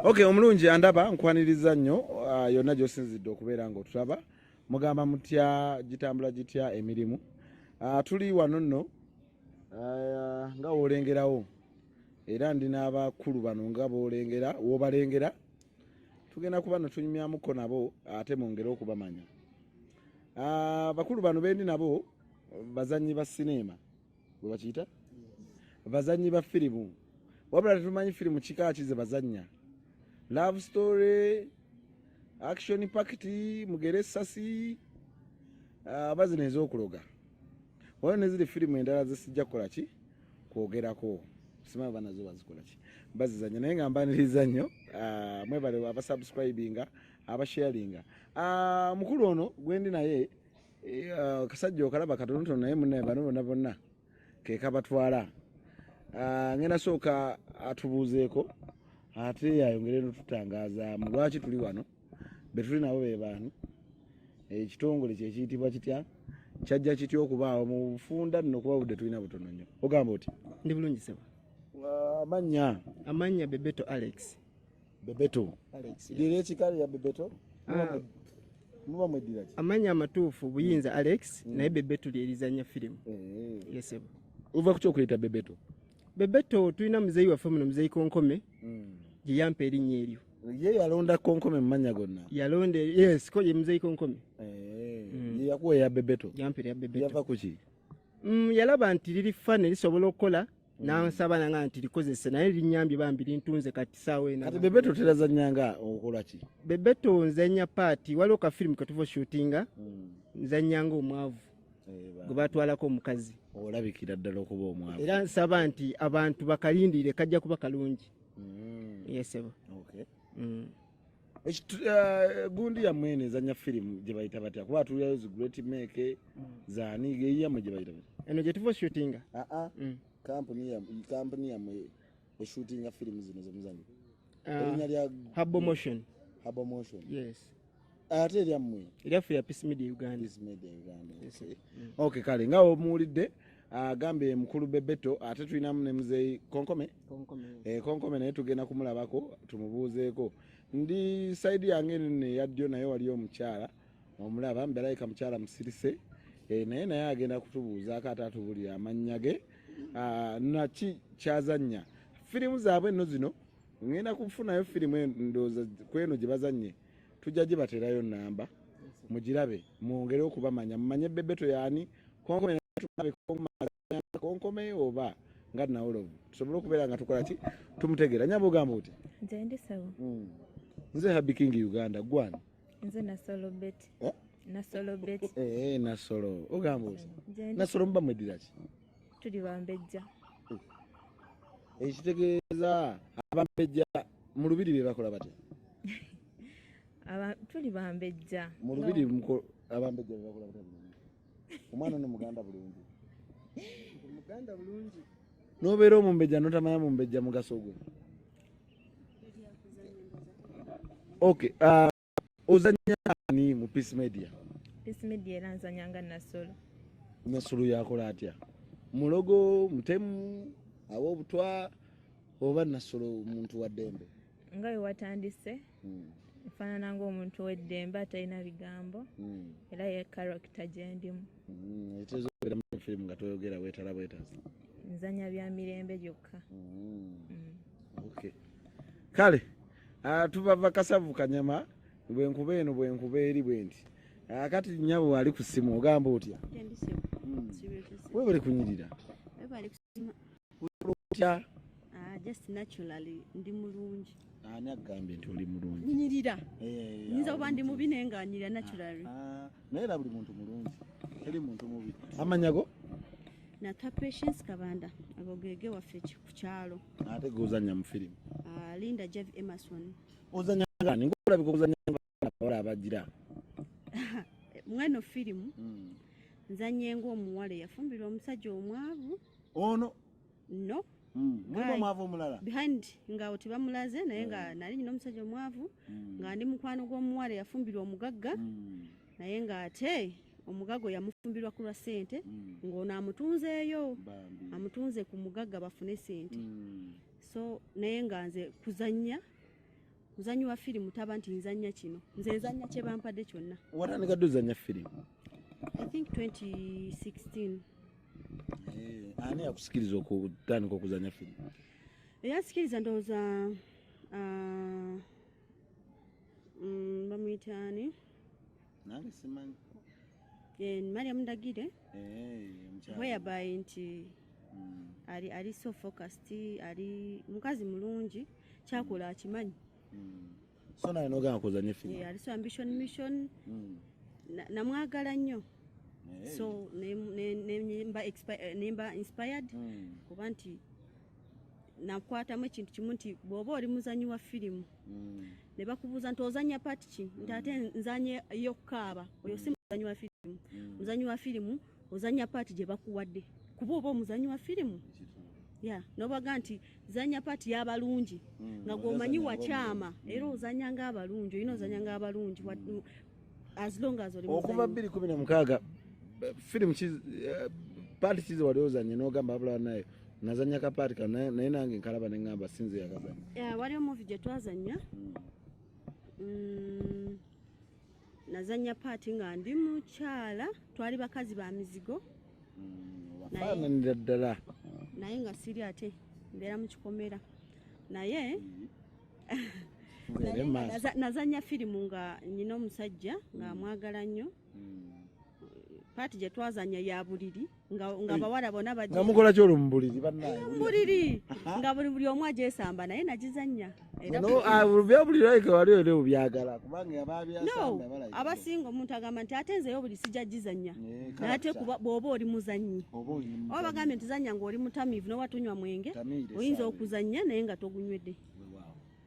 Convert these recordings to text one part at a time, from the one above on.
ok omulungi andaba nkwaniriza nnyo uh, yonna gyosinzidde okubeera nga otulaba mugamba mutya gitambula gitya emirimu uh, tuli wano nno uh, nga wolengerawo era ndi n'abakulu bano nga bolengera wobalengera tugenda kuba natunyumyamuko nabo ate mwongere okubamanya uh, bakulu bano bendi nabo bazanyi ba sineema webakiyita bazanyi ba firimu wabula tetumanyi firimu kika kize bazanya love story action pact mugere sasi ah, abazi uh, nezokuloga wala neziri firimu endala zesijja kukola ki kwogerako simanyi bana zo bazikola ki bazizanya naye nga mbaniriza nnyo uh, mwebale abasubscribinga abasharinga uh, mukulu ono gwendi naye uh, kasajja okalaba katonotono naye munaye bano bona bonna kekabatwala uh, ngenda sooka atubuuzeeko ate yayongere notutangazaamu lwaki tuli wano betuli nabo bebaani ekitongole kyekiyitibwa kitya kyajja kitya okubaawo mu bufunda nno kuba budde tulina butono nnyo ogamba oti ndi bulungi sebo amannya amannya bebeto alex Bebeto. Dira ekikalo ya Bebeto. Ah. Muba mwedira ki? Amanya amatuufu buyinza mm. Alex mm. naye Bebeto lyerizanya firimu. Eh. Yes. Uva kucho kuleta Bebeto. Bebeto tulina muzeyi waffe muno muzeyi Konkome. Mm. Gye yampa erinnya eryo. Ye yalonda Konkome mu mannya gonna. Yalonda yes ko ye muzeyi Konkome. Eh. Mm. Ye yakuwa ya Bebeto. Yampira ya Bebeto. Yava kuki? Mm, yalaba nti liri fane lisobola okukola nansaba nanga nti likozese naye linyambye bambi lintunze kati saawa ena kati bebeto terazanya nga okola ki bebeto nzanya paati waliwo ka firimu ketuva oshutinga hmm. nzanya nga omwavu eh, gwe batwalako omukazi olabikira ddala okuba omwavu era nsaba nti abantu bakalindirire kajja kuba kalungi hmm. yesebo mm. Eh, gundi ya mwene ezanya firimu gye bayita batya kuba atulirayo zi great make mm. zani geyiyamu gye bayita batya eno gye tuva shootinga aa ah, ah. mm. kampuni yamwe eshootinga firimu zino zemuzanyi ah. erinya lya habo motion habo motion yes ate eryammwe eryaffe ya peace media uganda peace media uganda okay mm. kale nga omuwulidde agambye mukulu bebeto ate tulinamu ne muzeeyi konkome konkome eh, naye tugenda kumulabako tumubuuzeeko ndi saidi yange nino eya ddyo naye wali omukyala omulaba mbelayika mukyala musirise eh, naye naye agenda kutubuuzaako ate atubulira amannya ge ah, naki kyazannya firimu zaabwe enno zino ngenda kufunayo firimu endooza kweno gye bazannye tujja gibateerayo namba mugirabe mwongere okubamanya mumanye bebeto yaani konkome oba nga nawolovu tusobole okubeera nga tukola ki tumutegeera nyaba ogamba oti nzendisabo hmm. nze habi king uganda gwani nze nasolo beti eh? nasolo beti eh, nasolo ogamba oti nasolo muba mwediraki tuli bambejja ekitegeeza abambejja mu lubiri bye bakola batya tuli bambejja mu lubiri abambejja bye bakola batya omwana no muganda bulungi muganda bulungi nobeera omumbejja notamanya mumbejja mugaso gwe okay uh, ozanya ani mu peace media peace media era nzanya nga nasolo nasolo yakola atya mulogo mutemu awo obutwa oba nasolo omuntu wa ddembe nga wewatandise hmm. nfaanana ngaomuntu weddembe atalina bigambo hmm. era ye karakita gyendimu hmm, etezobeera mu firimu nga toyogera wetala bwetazi nzanya bya mirembe gyokka kale Ah, tubava kasavu kanyama bwenkuba eno bwenkuba eri bwenti ah, kati nyabo wali ku simu ogamba otya hmm. webale kunyirira otya ah, just naturally ndi mulungi ani agambye nti oli mulungi nyirira eh, nyinza kuba ndi mubi naye nga nyirira naturally naye era buli muntu mulungi teri muntu mubi amanyago nata patience kabanda agogege waffe ku kyalo ate gozanya mu firimu ah, linda jav emerson ozanya ngani ngolabika okuzanya ngabawala abagira mweno firimu hmm. nzanye ngaomuwala eyafumbirwa omusajja omwavu ono oh, no mulimu omwavu omulala behind nga oti bamulaze naye nga hmm. nali nyina omusajja omwavu hmm. nga ndi mukwano gw'omuwala eyafumbirwa omugagga hmm. naye nga ate omugago yamufumbirwa ku lwa sente ng'ono amutunzeeyo amutunze ku mugagga bafune sente so naye nga nze kuzannya muzanyi wa firimu taba nti nzannya kino nze nzannya kye bampadde kyonna watandikadde ozannya firimu i think 2016 Eh, ani yakusikiriza okutandika okuzanya firimu eyasikiriza ndowooza ah, mm, bamuyita ani nange simanyi eh, mariam ndagire eh, weyabayi nti mm. ali ali so focused ali mukazi mulungi kyakola akimanyi mm. so naye nogamba kuzanye fina yeah, aliso ambition mission mm. namwagala nnyo hey. so nemba eh, inspired mm. kuba nti nakwatamu ekintu kimu nti bwoba oli muzanyi wa firimu mm. ne bakubuuza nti ozanya pati ki nti ate mm. nzanye eyokukaaba oyo si muzanyi wa firimu mm. muzanyi wa firimu mm. ozanya paati gye bakuwadde kuba oba omuzanyi wa firimu ya nobaga nti zanya paati y'abalungi hmm, nga gwomanyi wakyama hmm. era ozanya ng'abalungi olina ozanya ng'abalungi hmm. as long as oli okuva bbiri kumi na mukaaga firimu eh, paati kizi wali ozanye n'ogamba abulala nayo nazanya ka paati ka naye nange nkalaba ne ŋŋamba sinze yakazanya waliwo muvi gye twazanya mm. nazanya paati nga ndi mukyala twali bakazi ba mizigo mm, faananira ddala naye nga siri ate mbeera mu kikomera naye mm-hmm. nazanya firimu nga nyina omusajja nga mm. amwagala nnyo mm. paati gye twazanya ya buliri nga nga bawala bona bajja nga mukola kyolo mubuliri banaye mubuliri nga buli buli omu ajesamba naye najizanya era no abubya ah, buli like wali ole ubyagala kubanga ababya samba bala no abasingo omuntu agamba nti atenze yo buli sija jizanya eh, nate kuba bobo oli muzanyi obo oli muzanyi oba gambe ntizanya ngo oli mutamivu no watunywa mwenge oyinza okuzanya naye nga togunywede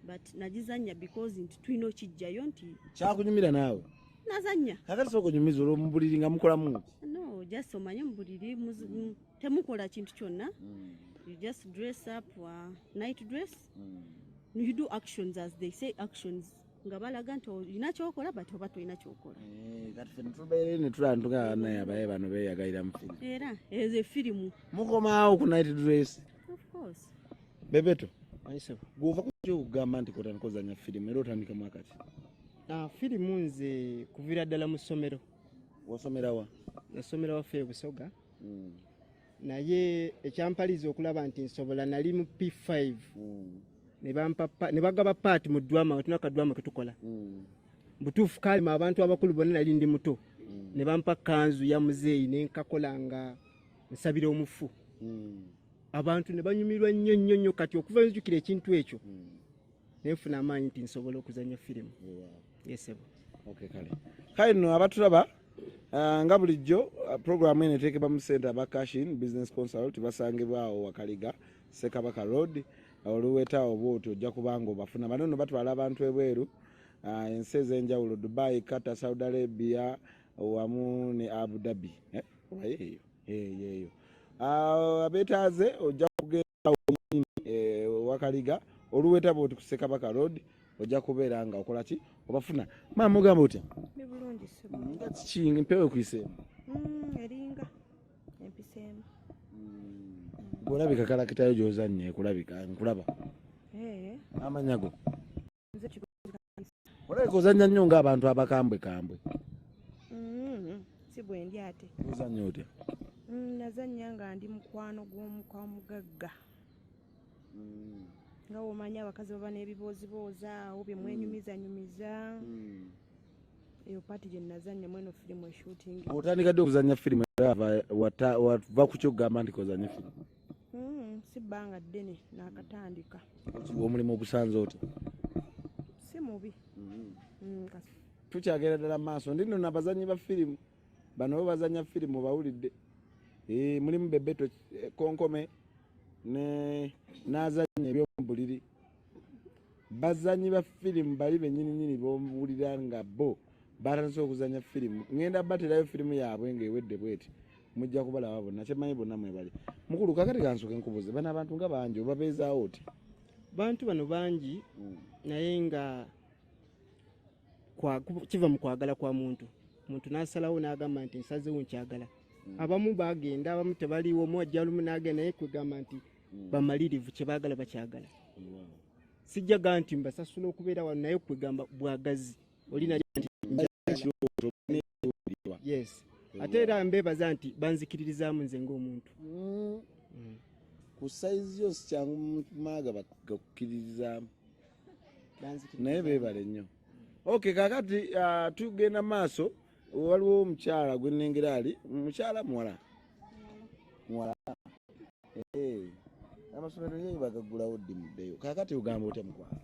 but najizanya because nti tulina okijjayo nti kyakunyumira naawe nazanya kakati soka onyumiza olwo mubuliri nga mukolamu no just omanye mubuliri temukola kintu kyonna mm. you just dress up uh, night dress mm. you do actions as they say actions nga balaga nti olina kyokola but oba tolina kyokola eh, kati fe netubeere netulaba ntugaa naye abaye bano beyagalira mu firimu era ezo efirimu mukomaawo ku night dress of course Bebeto. Ayisebo. Gwova kujja okugamba nti kotandika ozanya firimu era otandika mwaka ki? Ah, firimu nze kuvira ddala mu ssomero. Wasomera wa? Nasomera waffe e Busoga. Mm. Naye ekyampaliza okulaba nti nsobola nali mu P5. Mm. Ne bampa ne bagaba part mu drama wetuna ka drama ketukola. Mm. Butufu kali ma abantu abakulu bonna nali ndi muto. Mm. Ne bampa kanzu ya muzeyi ne nkakola nga nsabira omufu. Mm. abantu ne banyumirwa nnyo nnyo nnyo kati okuva nzijukira ekintu ekyo hmm. nenfuna amaanyi nti nsobola okuzanya firimu yesebo kale no abatulaba uh, nga bulijjo uh, programu eno eteekebwa mu sente aba cashin business consult basangibwawo wakaliga sekabaka road oluweta obwoti ojja kubanga obafuna bano no batwala abantu ebweru uh, ensi ez'enjawulo dubai qatar saudi arabia wamu ne abu dhabi eh? eyeyo ah, abetaaze ojja kugenda wenyini eh, wakaliga oluweta bwoti ku sekabaka road ojja kubeera nga okola ki obafuna maama ogamba otya kiki mpewo ekuiseemu mm, eringa empiseemu mm. olabika kalakitayo gyozannye kulabika nkulaba eh. amanyago olabika ozanya nnyo ngaabantu abakambwe kambwe mm-hmm. si bwendi ate ozanya otya mm, nazanya nga ndi mukwano gwomukwaomugagga mm. nga womanya abakazi baba n'ebiboozibooza awo byemwenyumizanyumiza mm. eyo paati gye nazanya mweno firimu eshutingi otandika ddi okuzanya firimu era wava ku kyokugamba nti kozanya firimu Mm, si bbanga ddene nakatandika omulimu ogusanze oti si mubi mm. mm, tukyagera ddala maaso ndi nona abazanyi ba firimu bano bo bazanya firimu obawulidde eh, mulimu bebeto eh, konkome nazanya ebyomubuliri bazanyi ba firimu bali benyininyini bowulira nga bo batandise okuzanya firimu ngenda baterayo firimu yaabwe ngaewedde bweti mujja kubalaba bonna kyemanyi bonna mwebali mukulu kakati kansoke nkubuze bano abantu nga bangi obabeezaawo oti bantu bano bangi mm. naye nga kiva mu kwagala kwa muntu muntu nasalawo nagamba nti nsazewo nkyagala mm. abamu bagenda abamu tebaliwo omu ajja lumu nagenda naye kwegamba nti mm. bamalirivu kyebagala bakyagala sijjaga nti mbasasula okubeera wano naye kwegamba bwagazi olina kiwulirwa yes ate era mbebaza nti banzikiririzaamu nze ngaomuntu mm. mm. ku saizi yo sikyangu maaga bagakukkiririzaamu naye bebale nnyo ok kakati uh, tugenda maaso waliwo omukyala gwenengera ali mukyala muwala muwala eh, amasomero ye bagaggulawo ddi muddeyo kakati ogamba otya mukwano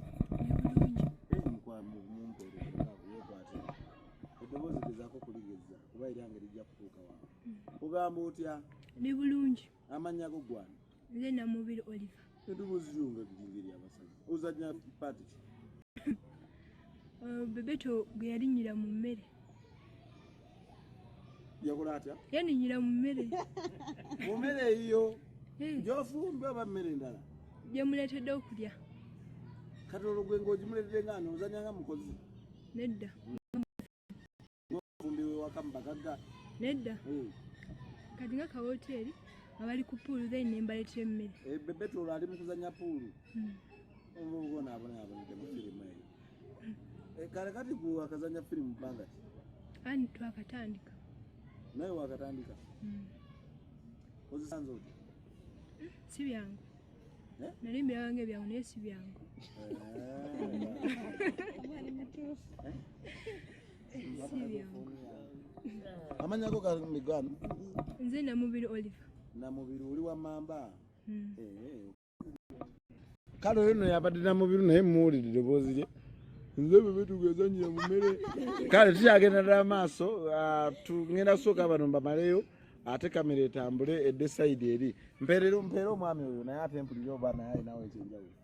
eddoboozi gezaako kuligeza kuba era ngeri jja kutuuka wa ogamba otya ni bulungi amannya go gwana Nze na mubiri Oliver. Edobozi lyo nga liringa ery'abasajja. Ozannya paati ki? Uh, Bebeto gwe yalinnyira mu mmere. Yakola atya? Yaninnyira mu mmere. Mu mmere eyiyo? Eh. Gy'ofumba oba mmere endala? Gye muleetedde okulya. Kati olwo gwe ng'ogimuleetedde nga ani? Ozannya nga mukozi? Nedda. Ng'omufumbi w'ewaka mu bagagga? Nedda. Hmm. Kati nga ka wooteeri nga bali ku puulu then ne mbaleetera emmere. Eh, Bebeto olwo ali mu kuzannya puulu. Hmm. Omuvubuka ono abonaabonedde mu firimu eyo. Hmm. Eh, kale kati gwe wakazannya firimu bbanga ki? Ani twakatandika. Naye wakatandika? Ozisanze otya? Si byangu. Eh? Nali mbyawange byangu naye si byangu. Eh. amanya go gano nze namubiri olive namubiri oli wa mamba hmm. eh, eh. kale oyo no yabadde namubiri naye muwulidde doboozi lye nze bebe tugezanyira mumere kale tukyagenda dala maaso ah, tugenda kusooka bano mbamaleyo ate kamera etambule edde saidi eri mpeerero mpeera omwami oyo naye ate mpulire oba naye alinawo ekyenjawulo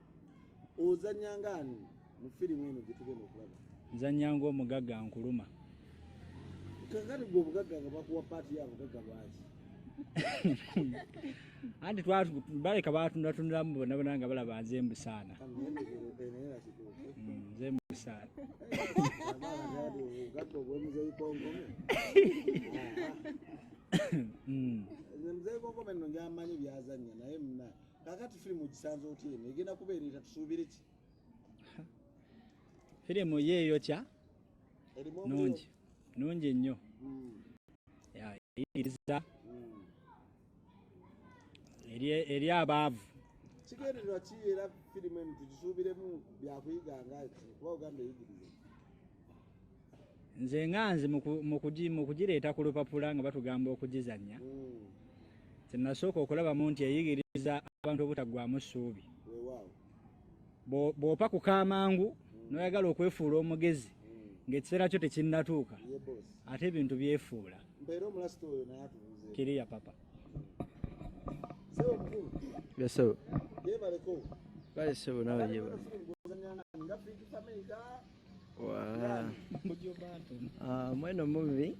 ozanya nga ani mu firimu eno gye tugenda okulaba nzanya nga omugagga nkuluma kakati gwe obugagga nga bakuwa paati ya bugagga lwaki anti baleka batundatunulamu bonabona nga balaba nze mbusaana mm, nze mbusaana mm. nze mukome no njamanyi byazanya naye muna kakati firimu ogisanze otya eno egenda kubeera eta tusuubire ki firimu ye eyokya nungi nungi nnyo hmm. eyigiriza hmm. eri abaavu kigendererwa ki era firimu eno tugisuubiremu byakuyiga nga kuba ogamba eyigiriza nze nga nze mukugireeta ku lupapula nga batugamba okugizanya kyenasooka okulabamu nti eyigiriza abantu obutaggwamu ssuubi bw'opa ku kamangu n'oyagala okwefuula omugezi ng'ekiseera kyo tekinnatuuka ate ebintu byefuula kiriya papa Yes, sir. Yes, sir. Ah, mweno mubi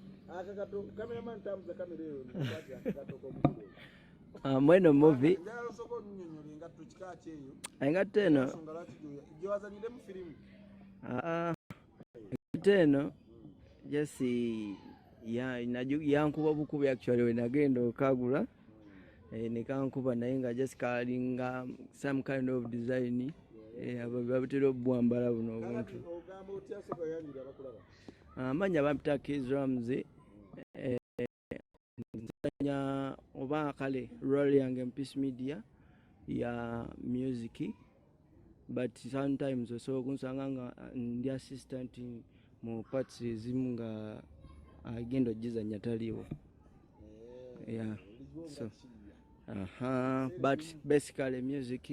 ah, mweno mubi engatto eno ah, engatto eno jesi yankuba bukubi actually wenagenda okagula ya eh, nekankuba naye nga just kalinga some kind of design eh, babutera obwambala buno obuntu amanya ah, bampita kizrams eh, oba kale rol yange mpeace media ya music but sometimes osobola okunsanga nga ndi assistant mu parts ezimu nga agenda ogizanya taliwo eh, yeah so aha but basically music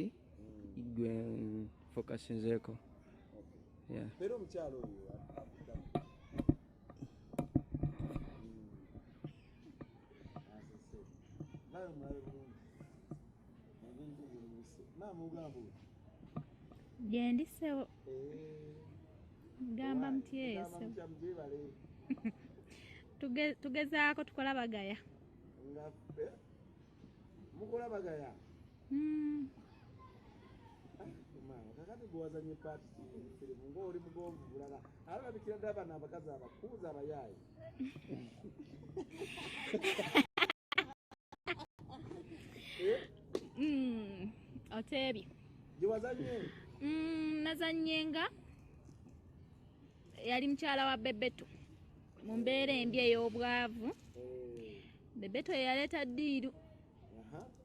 gwe focusinzeko yeah Vai, mãe. gyendi ssebo eh. gamba mutyeso tugezaako tukola bagaya eh? mukola bagaya hmm. kakati gwewazanye paati firimu ngaoli mugonvu bulala alabikira dda abana abakazi abakuuza abayaayi Mm, oteebye mm, nazannyenga yali mukyala wa bebeto mu mbeera embi ey'obwavu bebeto yeyaleeta ddiiru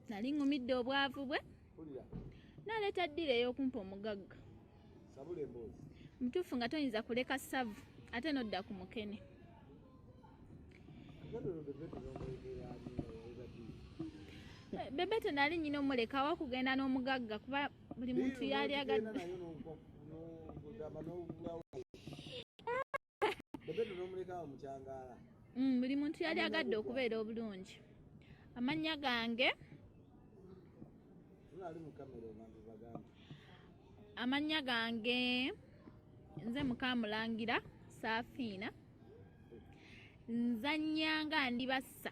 nali ŋumidde obwavu bwe naleeta ddiiru ey'okumpa omugagga sabula emboozi mutuufu nga toyinza kuleka savu ate nodda ku mukene bebeto nali nyina omuleka wa kugenda n'omugagga kuba buli muntu yali agadde mm, buli muntu yali agadde okubeera obulungi amannya gange amannya gange nze mukamulangira saafiina nzannya nga ndi bassa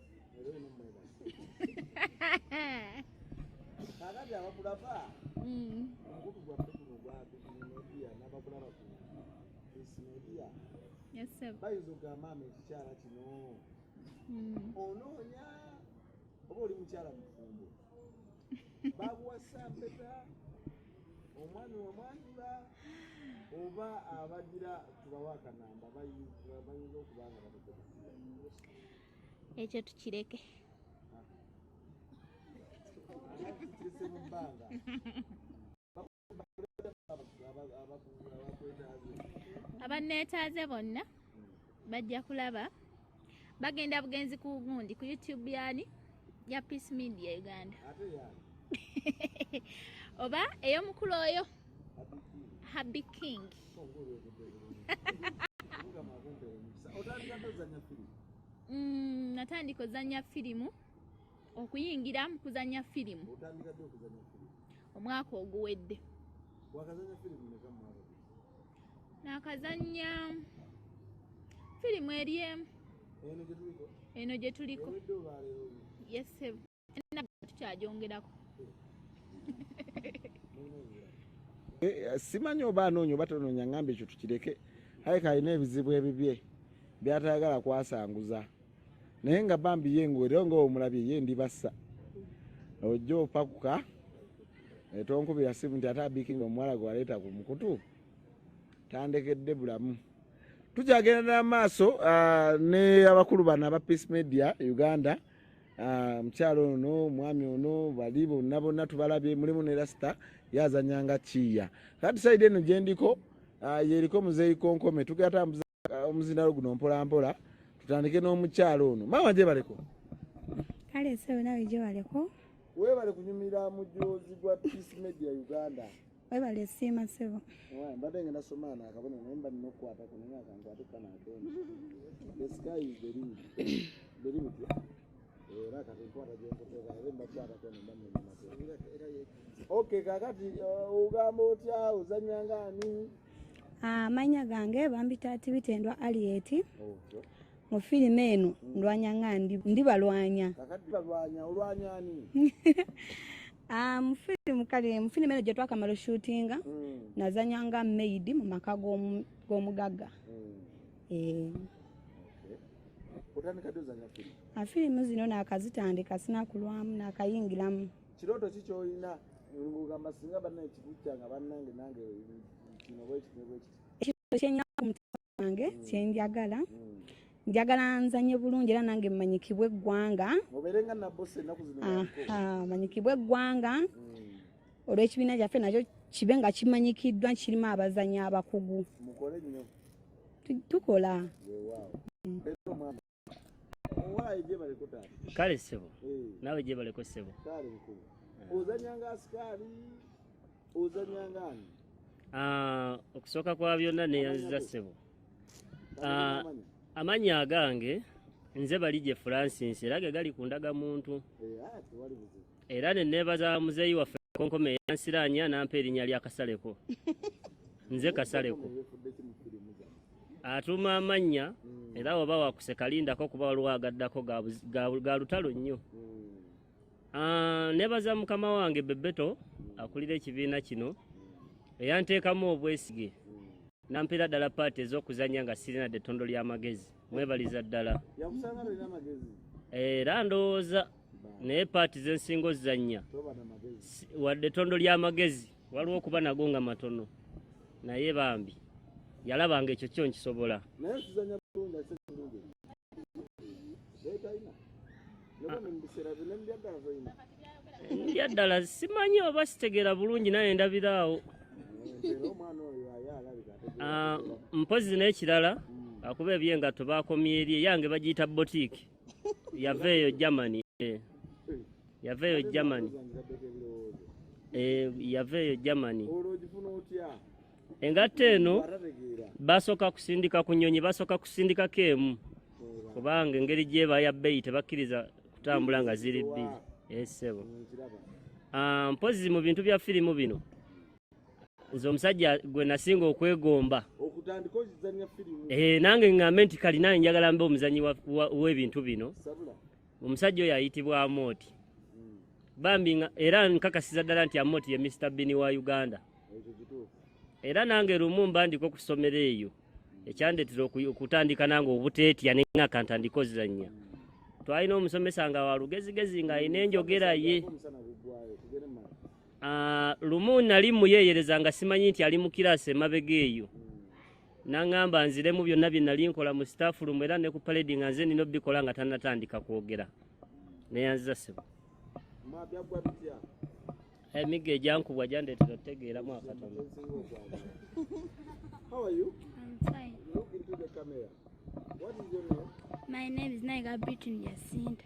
kakati abakulaba omukutu gwaffe guno gwabimedia nabakulaba ku ismedia bayinza okugamba ama ekikyala kino onoonya oba oli mukyala mufumbo bakuwasa mpeta omwana wamwanjula oba abagira tubawa akanamba bayinza okuba nga bakukoa ekyo tukireke abanneetaaze bonna bajja kulaba bagenda bugenzi ku gundi ku youtube yani ya peace media uganda oba ey'omukulu oyo Happy King. Mm, natandika ozanya firimu okuyingira mu kuzanya firimu omwaka oguwedde nakazanya firimu eri emu eno gye tuliko yesebu tukyajongerako eh, eh, simanyi oba anoonya oba tonoonya ngamba ekyo tukireke aye kalina ebizibu ebibye byatayagala kwasanguza naye nga bambi ye ngaoleo nga omulabye ye ndibassa ojja opakuka etonkubira simu nti ate abikinga omuwala gwe waleeta ku mukutu tandekedde bulamu tukyagenda n'amaaso ah, ne abakulu bano aba peace media uganda Ah, mukyalo ono omwami ono bali bonna bonna tubalabye mulimu ne rasita yazanyanga kiya kati saidi eno gyendiko ah, yeriko muzeeyi konkome tugera tambuza ah, omuzindalo guno mpolampola tutandike n'omukyalo ono maama gyebaleko kale sebo nawe gyebaleko webale kunyumira mujozi gwa peace media uganda webale siima sebo mbadde nga nasoma ano akabona naye mba nina okukwata ku naye akankwate kana akeni the sky is the limit the limit era kati nkwata gyenkuteeka naye mbakwata kona mba munyamate ok kakati uh, ogamba otya ozanya ngaani amanya ah, gange bambita tibitendwa alieti mu firimu eno ndwanya nga ndi balwanya ah, mu firimu kale mu firimu eno gye twakamala oshutinga hmm. nazanya nga maid mu maka g'omugagga hmm. eh. ah, firimu zino nakazitandika sinakulwamu nakayingiramu kirooto ki kyolina ngamba singa banna ekikucca nga bannange nange kino bwekitibwekiti ekyo kyenyina ku mutima wange mm. kyenjagala mm. njagala nzanye bulungi era nange manyikibwe eggwanga manyikibwe eggwanga mm. olw'ekibiina kyaffe nakyo kibe nga kimanyikiddwa kirimu abazanyi abakugu tukola kale ssebo eh. naawe gyebaleko ssebo ah. ozanyanga asikaali ozanyanga ani ah, okusooka kwa byonna neyanziza ssebo ah, amanya agange nze bali gye francis era ge gali ku ndagamuntu eh, era ne neebaza muzeeyi waffe konkome eyansiraanya nampa erinnya lya kasaleko nze kasaleko atuuma amannya hmm. era oba wakuseka lindako kuba waliwo agaddako ga lutalo nnyo hmm. ah, nebaza mukama wange bebeto hmm. akulira ekibiina kino eyanteekamu obwesige nampeera ddala paati ez'okuzanya nga sirina dde ettondo ly'amagezi mwebaliza ddala era ndowooza naye paati zensinga ozannya wadde ettondo ly'amagezi waliwo okuba nago nga matono naye bambi yalabanga ekyo kyo nkisobola ndya ddala simanyi oba sitegeera bulungi naye ndabiraawo ah, mpozi n'ekirala akuba ebyengatto bakomyeeri eyange bagiyita botiiki yaveeyo Germany eh. yaveeyo Germany eh, yaveeyo Germany engatta eno basooka kusindika ku nyonyi basooka kusindikako emu kubanga engeri gyeba ya bbeeyi tebakkiriza kutambula nga ziri bbiri esebo eh, ah, mpozi mu bintu bya firimu bino nze omusajja gwe nasinga okwegomba eh, nange ŋŋambe nti kalina njagala mbe omuzanyi w'ebintu bino omusajja oyo ayitibwa amooti hmm. bambi era nkakasiza ddala nti amooti ye mr bini wa uganda era nange lumu mba ndiko ku ssomero eyo hmm. ekyandetera okutandika nange obuteetya nenga kantandika ozizannya hmm. twalina omusomesa nga walugezigezi ng'alina enjogera ye Ah, lumu nali muyeeyereza nga simanyi nti ali mu kiraasi emabega eyo naŋŋamba nziremu byonna bye nali nkola mu sitaafu lumu era ne ku paledi nga nze nina obikola nga tannatandika kwogera neyanziza sebo emigga eh, egyankubwa gyandeetera otutegeeramu akatono My name is Naiga Britain Jacinta.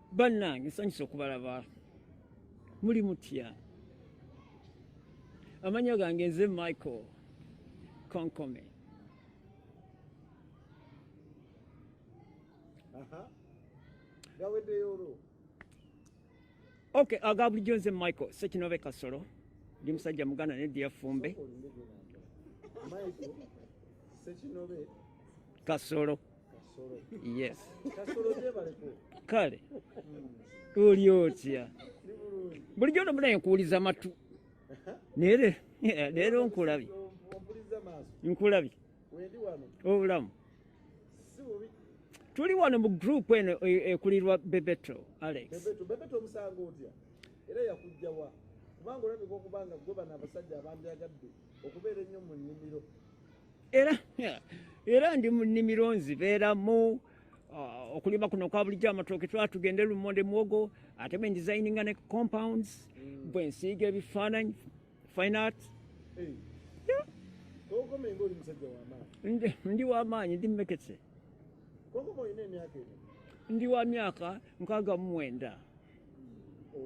bannange nsanyusa okubalaba muli mutya amanya gange nze michael konkome ok aga bulijjo nze michael sekinobe kasolo ndi musajja muganda ne diyafumbe kasolo yes kale oli otya bulijjo no munaye nkuwuliza matu naye leero nkulabye nkulabye obulamu tuli wano mu group eno e, ekulirwa bebeto alex era yakujjawa kubanga olabika okubanga gwe bano abasajja abandyagadde okubeera ennyo mu nnimiro era era ndi mu nnimiro nzibeeramu uh, okulima kuno kwa bulijjo amatooke twala tugende lumonde muwogo ate bwe ndesigninga ne compounds mm. bwe nsiiga ebifaananyi fine art ndi wamaanyi ndi mmekese ndi wa myaka nkaaga mu mwenda mm.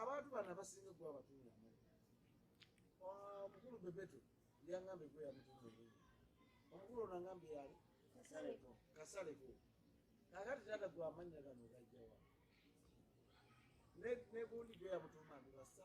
abantu bano abasinga kuba abatunula amanya omukulu bebeto yangamba egwe yamutunula enyini omukulu ono angambe yali kasaleko kakati tata gwe amanya gano gajjawa negundi gwe yamutuuma ndi basa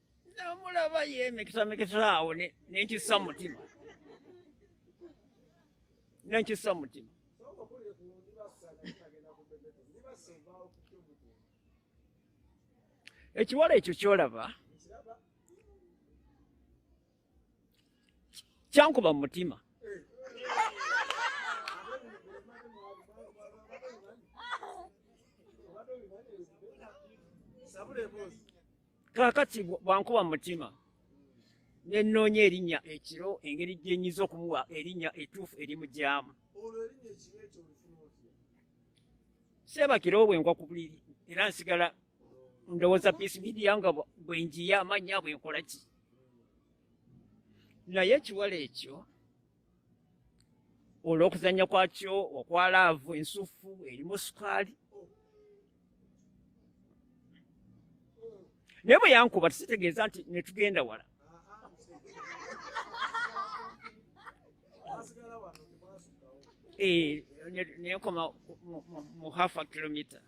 namulaba ye mikisamikisa awo nenkisa mutima nenkisa mutima ekiwala ekyo kyolaba kyankuba mu mutima kaakati bwankuba mutima nenoonya erinnya ekiro engeri gyenyinza okumuwa erinnya etuufu erimugyamu sebakiro bwenkwa ku buliri era nsigala ndowooza peace media nga bwenjiya amannya bwenkola ki naye ekiwala ekyo olw'okuzannya kwakyo okwa laavu ensuffu erimu sukaali naye bwe yankuba tekitegeeza nti ne tugenda wala eh, nenkoma mu half a kilometer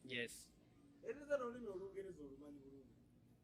yes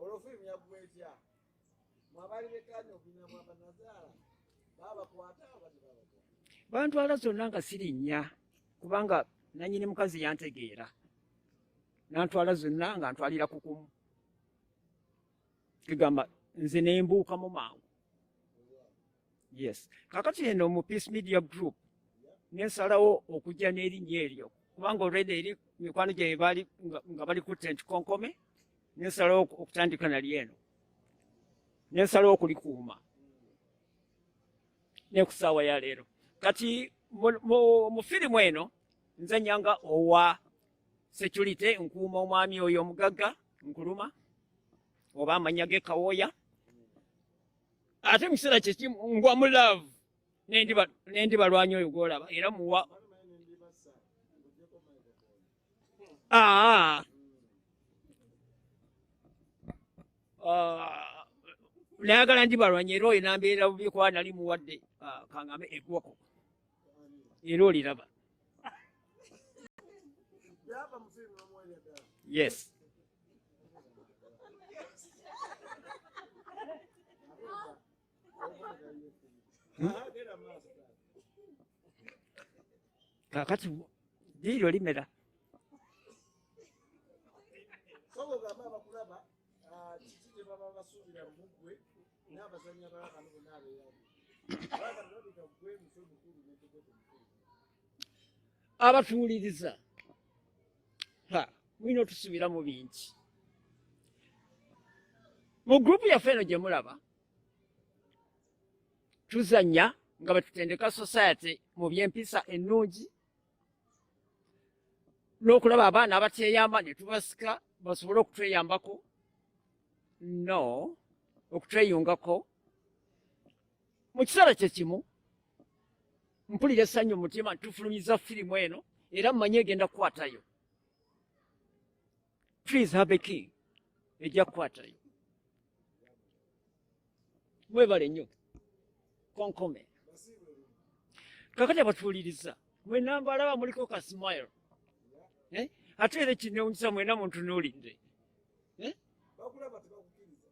olwo firimu yaggwa etya mwabali bekanya okulina mwabanazaala babakwata abati babakwata bantwala zonna nga sirinnya kubanga nanyini mukazi yantegeera nantwala zonna nga ntwalira kukumu kigamba nze nembuukamu mangu yes kakati eno mu peace media group nensalawo okujja n'erinnya eryo kubanga olweda eri mikwano gyaye bali nga bali ku tent konkome nensalawo okutandika nali eno nensalawo okulikuuma nekusaawa ya leero kati mu firimu eno nzanya nga owa security nkuuma omwami oyo omugagga nkuluma oba amanya gekawooya ate mu kiseera kyekimu ngwa mu laavu nendi balwanya oyo gwolaba era muwa ah. Ah. nayagala ndi balwanya era oyo nambeera bubi kuba nali muwadde ah, kangame egwako era oliraba yes kakati liiryo limera abatuwuliriza mulina otusubiramu bingi mu gurupu yaffe eno gye mulaba tuzanya nga bwetutendeka society mu byempisa ennungi n'okulaba abaana abateyamba ne tubasika basobole okutweyambako no okutweyungako mu kiseera kye kimu mpulira essanyu mu mutima tufulumiza firimu eno era mmanyi egenda kukwatayo please have a king ejja kukwatayo mwebale nnyo konkome kakati abatuwuliriza mwenamba alaba muliko ka smile eh? ate era ekinewunyisa mwena muntunuulidde eh?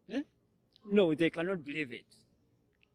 eh? no they cannot believe it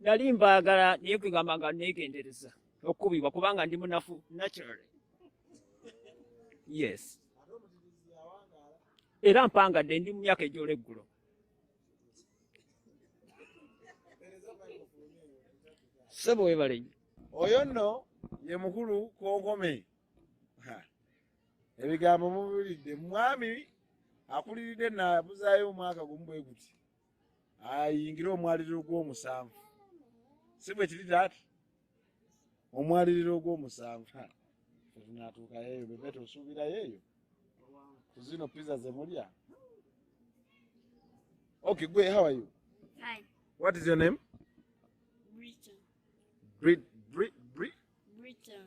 nali mbaagala naye kwegamba nga neegendereza okukubibwa kubanga ndi munafu naturally yes era mpangadde ndi mu myaka egyola eggulo sebo webalenyo oyo nno ye mukulu konkome ebigambo mubiwulidde mwami akuliridde nabuzaayo omwaka gumu bwe guti ayingire omwaliriro gw'omusanvu si bwe kiri taata omwaliriro ogw'omusanvu tunatuukayo eyo bebe tosuubirayo eyo kuzino pizza zemulya ok gwe how are you Hi. what is your name Britain. Brit, Brit, Brit? Britain.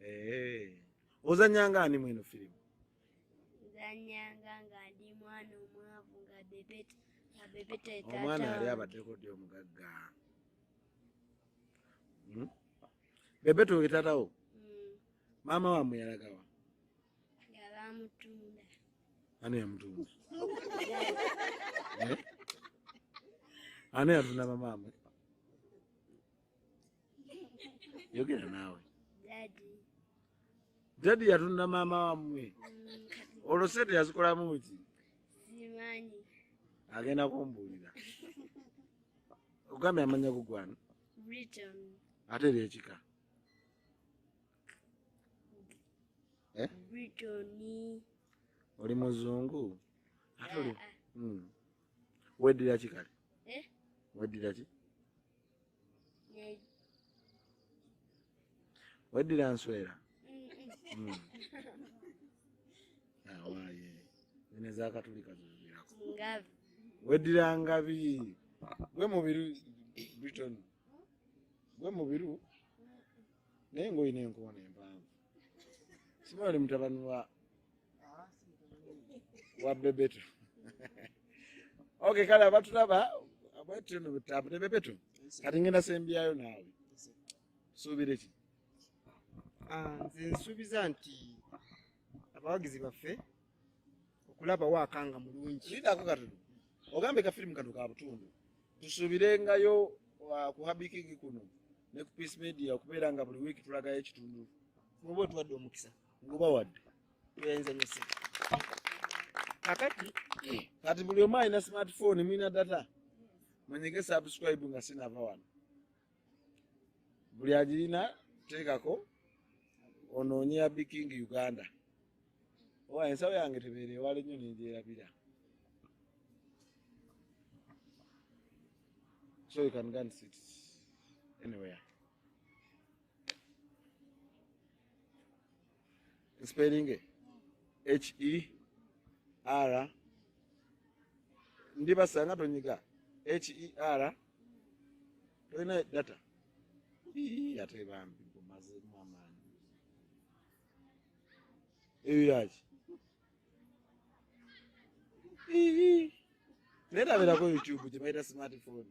Eh. Ozanyanga ani mweno film? Ozanyanga nga ndi mwana omwavu nga bebeta nga bebeta tata. Omwana yali abadeko ndi omugagga. Hmm? Bebeta oyo tatawo? Hmm. Mama wa muyalagawa? Yaba mutunda. Ani ya mutunda? eh? Ani ya tunda mama amwe? yogera naawe dadi yatunda maama wamwe mm. olwo sente yazikolamu ki simanyi agenda kumbuulira ogambye amanya gugwana ate era ekika eh? oli muzungu ate oli ah, ah. Hmm. weddira ki kale eh? weddira ki weddira nswera hmm. awaye zino ezakatulika zizirako weddira ngabi gwe mubiru briton gwe mubiru naye ngaolina enkoona empanvu simaali mutabani wa wa bebeto okay kale abatulaba abatu no butabu ne bebeto kati ngenda sembyayo naawe suubire ki ah, nze nsuubiza nti abawagizi baffe okulaba waakanga mulungi lidako katono ogambe ka firimu kano ka butundu tusuubirengayo ah, ku habikigi kuno ne ku peace media okubeera nga buli wiiki tulagayo ekitundu oba otuwadde omukisa ngobawadde enzanyise kakati kati buli omu alina smartphone mulina data mwenyige subscribe nga sinava wano buli agirina teekako onoonye ya biking uganda owa ensawo yange tebeere ewala ennyo nenjerabira so you can go and sit anywhere spelling e h e r ndibasanga tonyiga h e r tolina data ate bambi gumazemu amaanyi eyo yaki naye tabirako youtube gyebayita smartphone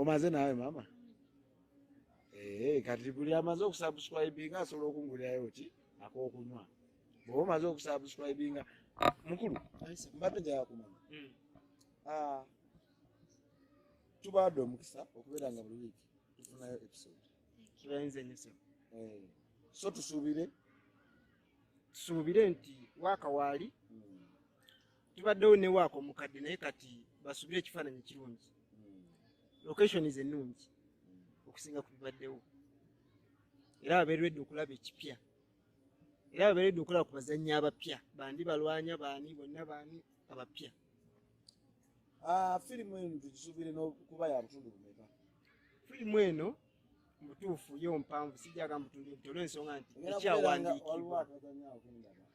omaze nawe mama eh, kati buli amaze okusubscribinga asobola okungulirayo ki akokunywa bwoba omaze okusubscribinga mukulu mbadde njagala kumanya hmm. ah, tubaadde omukisa okubeera nga buli wiiki tufunayo episode eh, so tusuubire tusuubire nti wakawaali hmm. tubaddewo ne waaka omukadde naye kati basubire ekifaananyi ekirungi location is ennungi okusinga ku bibaddewo era babeeredde okulaba ekipya era babeeredde okulaba ku bazannyi abapya bandi balwanya baani bonna baani abapya ah, firimu eno tugisubire nokuba ya butundu bumeka firimu eno mutuufu yo mpanvu sijagamba butundu buti olwensonga nti ekyawandiikibwa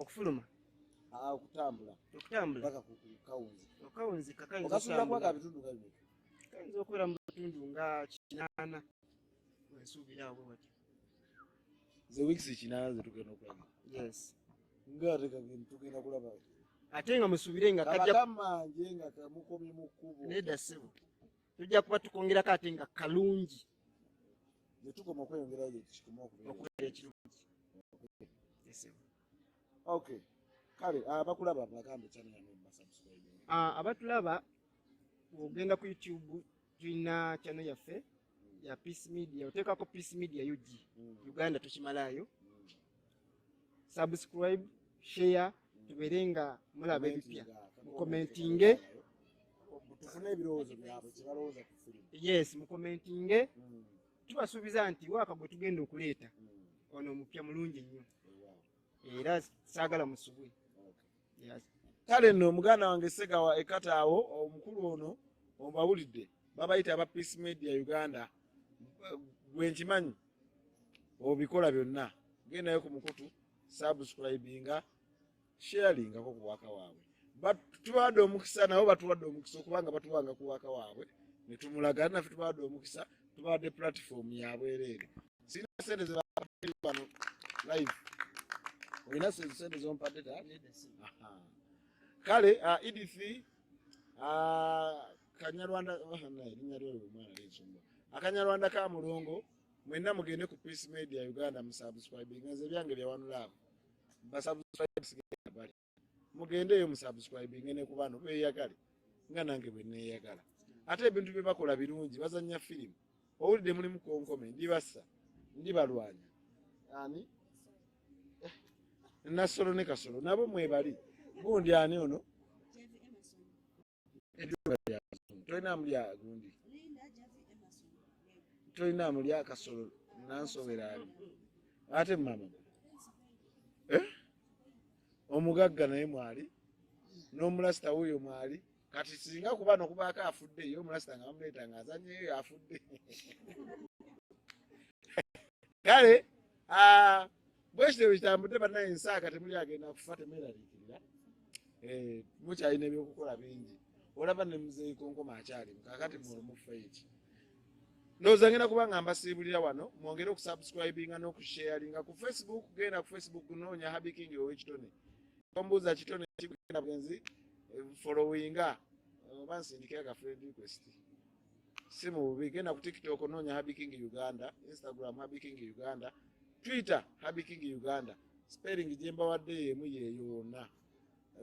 okufuluma ah, okutambula okutambula paka kukawunzi okawunzi kakayinza okasubira kwaka bitundu kabiri kayinza okubeera mu bitundu nga kinaana wensuubira awo wati ze weeks kinaana zetugenda okulaba yes nga ate kagenda tugenda kulaba ate nga musuubire nga kajakamanje nga kamukomye mu kkubo nedda ssebo tujja kuba tukongerako ate nga kalungi ne tukoma okweyongerayo gye kikoma okubeera ekirungi okay kale abakulaba ah, bagambe channel yange basubscribe ah, abatulaba ogenda ku youtube tulina channel yaffe ya peace media oteekako peace media ug mm. uganda tukimalaayo mm. subscribe share tubeere nga mulaba ebipya mukomentinge tufune ebirowoozo byabwe kyebalowooza ku firimu yes mukomentinge hmm. tubasuubiza nti waaka gwe tugenda okuleeta hmm. ono omupya mulungi nnyo era saagala musubwe kale nno muganda wange segawa ekataawo omukulu ono obawulidde babayita aba peace media uganda gwenkimanyi obikola byonna gendayo ku mukutu subscribinga sharingako ku waka waabwe tubawadde omukisa nabo batuwadde omukisa okubanga batuwanga ku waka waabwe netumulaga nafe tubawadde omukisa tubawadde platform yabwereere sirina sente zebano live olina sente zompadde ta kale uh, edith uh, kanyarwanda oh, erinya lyolwo omwana linsumba akanyarwanda ka mulongo Mwenna mugende ku Peace Media Uganda mu subscribing nze byange bya one love. Ba subscribe sigenda bali. Mugende yo mu subscribing ne ku bano beyagale nga nange bwe neyagala. Ate ebintu bye bakola birungi bazannya film. Owulidde mulimu konkome ndi bassa ndi balwanya. Ani? Eh, Nasolo ne kasolo nabo mwebali. Gundi ani ono? ebyuma bya bazungu tolina amulya gundi tolina amulya akasolo nansowera ali ate mama eh? omugagga naye mwali n'omulasita wuyo mwali kati singa kuba nokubaako afudde ye omulasita nga bamuleeta nga azanyeyo afudde kale ah, bwekityo bwekitambudde banaye ensaaka temuli agenda kufa temeraliikirira eh, mukyalina ebyokukola bingi olaba ne muzeeyi konkoma akyalimu kakati muolumufa eki ndowooza ngenda kuba nga mbasiibulira wano mwongere okusubscribinga n'okusharinga ku facebook genda ku facebook noonya habiking owekitone ombuuza kitone kigenda bwenzi eh, followinga eh, oba nsindikira ka friend request si mu bubi genda ku tiktok noonya habiking uganda instagram habiking uganda twitter habi king uganda spelling gyembawadde yemu yeyoona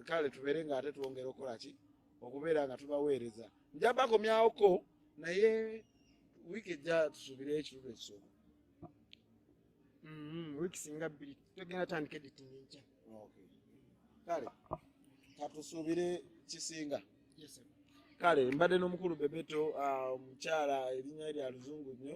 kale tubeere nga ate twongera okukola ki okubeera nga tubaweereza njabakomyawoko naye wiiki ejja tusuubire ekirulo ekisooka mm-hmm. wiiki singa bbiri togenda tandika editing enkya kale katusuubire kisinga kale mbadde n'omukulu bebeto ah, omukyala erinnya lya luzungu nnyo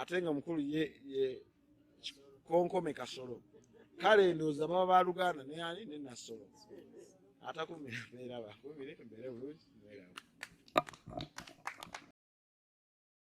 ate nga mukulu ye ye konkome kasolo kale ndooza baba ba luganda naye ani ne nasolo atakumira mbeera bakumire mbeere bulungi mbeerawo